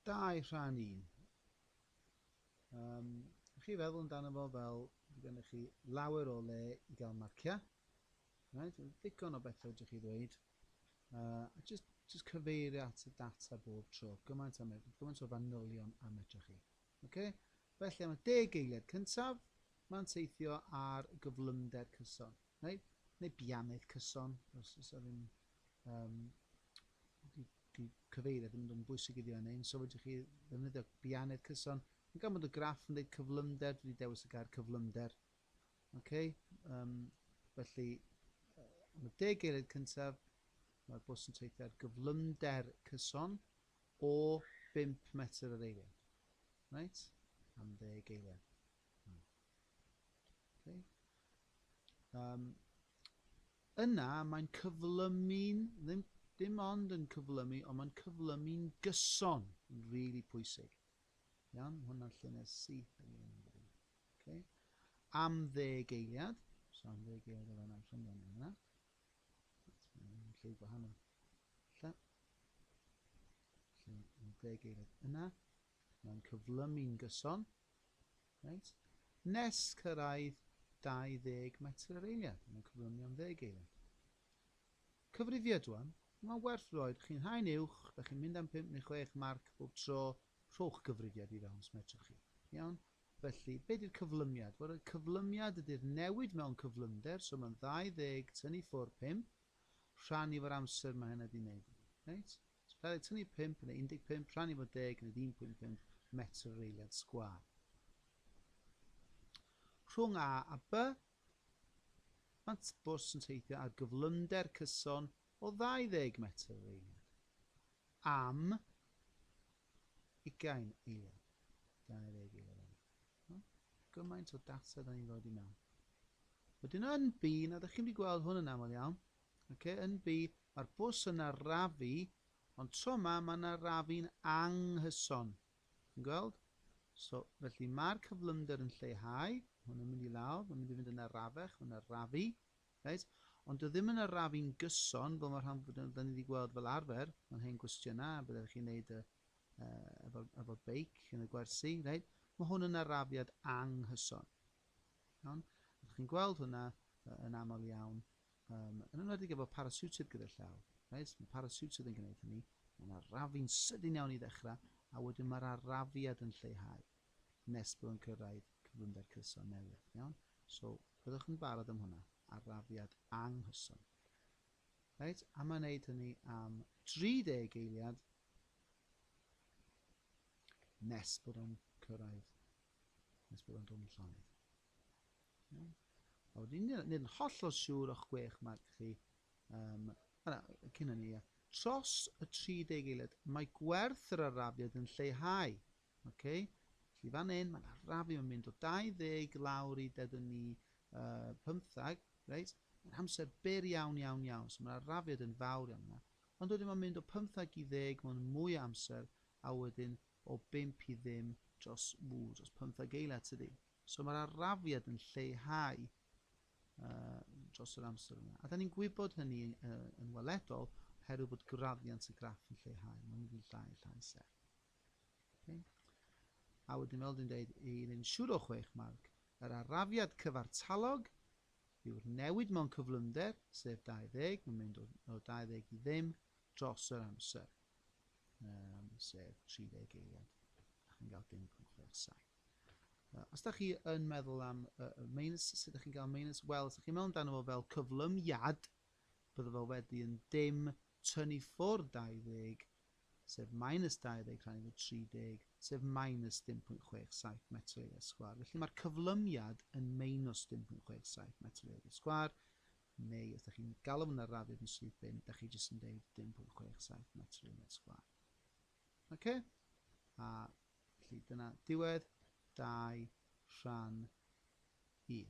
Dau rhan un. Um, chi feddwl amdano fo fel bydd gennych chi lawer o le i gael marciau. Right? Ddigon o bethau ydych chi ddweud. Uh, a just, just cyfeirio at y data bob tro. Gymaint, am, gymaint o fanylion a medrych chi. Okay? Felly am y deg eiliad cyntaf, mae'n teithio ar gyflymder cyson. Neu, neu bianydd cyson, os oes 'na ddim, um, di, di cyfeiriad ddim yn dod yn bwysig iddi yn ein, so fedrwch chi ddefnyddio bianydd cyson. Mae gan bod y graff yn dweud cyflymder, dwi wedi dewis y gair cyflymder. Okay? Um, felly, am y deg eiliad cyntaf, mae'r bws yn teithio ar gyflymder cyson o 5 metr yr eiliad. Right? Am ddeg eiliad. Okay. Um, yna mae'n cyflymu'n, ddim, dim ond yn cyflymu, ond mae'n cyflymu'n gyson, yn rili really pwysig. Iawn, hwnna'n llynedd syth yn ei ymwneud. Okay. Am ddeg eiliad, so am ddeg eiliad o fan am llynedd yn yna. Mae'n lle gwahanol. Lle, lle yn ddeg eiliad yna, mae'n cyflymu'n gyson, Reit. Nes cyrraedd 20 metr yr eiliad, mae'n cyflymu am ddeg eiliad. Cyfrifiad rwan, mae'n werth roed chi'n haen uwch, da chi'n mynd am 5 neu 6 marc bob tro, rhowch gyfrifiad i fewn os medrwch chi. Iawn? Felly, be di'r cyflymiad? Wel, y cyflymiad ydy'r newid mewn cyflymder, so mae'n 20 tynnu ffwrdd 5, rhan i fo'r amser mae hynna di wneud iddi. Reit? Gallai tynnu 5 neu 15 rhan i fod deg nid 1.5 metr yr eiliad sgwâr. Rhwng A a B, mae bws yn teithio ar gyflymder cyson o 20 metr yr eiliad, am ugain eiliad, 20 eiliad yna. No? Gymaint o data da ni'n rhoi i mewn. Wedyn yn B, na ydych chi'n wedi gweld hwn yn aml iawn, Ok NB, mae'r bws yn arafu, ond tro ma mae'n arafu'n anghyson. Chi'n gweld? So, felly mae'r cyflymder yn lleihau, hwn yn mynd i lawr, mae'n mynd i fynd yn arafech, mae'n arafu, right? ond dwi ddim yn arafu'n gyson, fel mae rhan fod ni wedi gweld fel arfer, mae'n hen gwestiynau, a byddech chi'n gwneud y, uh, efo'r efo beic yn y gwersi, right? mae hwn yn arafiad anghyson. Iawn? Ydych chi'n gweld hwnna yn aml iawn? Yym, yn enwedig efo parasiwtid gyda'r llaw. Reit, mae parasiwtid yn gwneud hynny, mae yna rafu'n sydyn iawn i ddechrau, a wedyn mae'r arafiad yn lleihau nes bod yn cyrraedd cyflymder cyson newydd, iawn? So, byddwch yn barod am hwnna, arafiad anghyson. Reit, a mae'n neud hynny am 30 eiliad nes bod o'n cyrraedd, nes bod o'n dod yn llonydd. Iawn. A wedyn, nid yn hollol siŵr o'ch gwech marc chi. Um, na, cyn hynny, ia. Tros y 30 eiliad, mae gwerth yr arafiad yn lleihau. Okay? Felly fan hyn, mae'n arafu, mae'n mynd o 20 lawr i dedwn ni uh, 15, reit? Mae'n amser byr iawn, iawn, iawn. So mae'r arafiad yn fawr iawn yna. Ond wedyn mae'n mynd o 15 i 10 mae'n mwy o amser, a wedyn o 5 i ddim dros, ww, dros 15 eiliad tydi. So mae'r arafiad yn lleihau uh, dros yr amser yna. A da ni'n gwybod hynny uh, yn weledol oherwydd bod graddiant y graff yn lleihau. Mae'n mynd yn llai a llai serth. Okay. A wedyn fel dwi'n dweud, i ryn siwr o chwech marc, yr arafiad cyfartalog yw'r newid mewn cyflymder, sef 20, mae'n mynd o, o 20 i ddim dros yr amser, um, sef 30 eiliad. A chi'n cael 0.67. Os da chi yn meddwl am uh, minus, sut ydych chi'n cael minus? Wel, os ydych chi'n meddwl amdano fo fel cyflymiad, bydde fo wedi yn dim tynnu ffwrdd 20, sef minus 20 rhan efo 30, sef minus 0.67 metr eiliad sgwar. Felly mae'r cyflymiad yn minus 0.67 metr eiliad sgwar, neu os ydych chi'n galw hwnna radiad yn syth bin, ydych chi jyst yn dweud 0.67 metr eiliad sgwar. Ok, a felly dyna diwedd dau rhan un.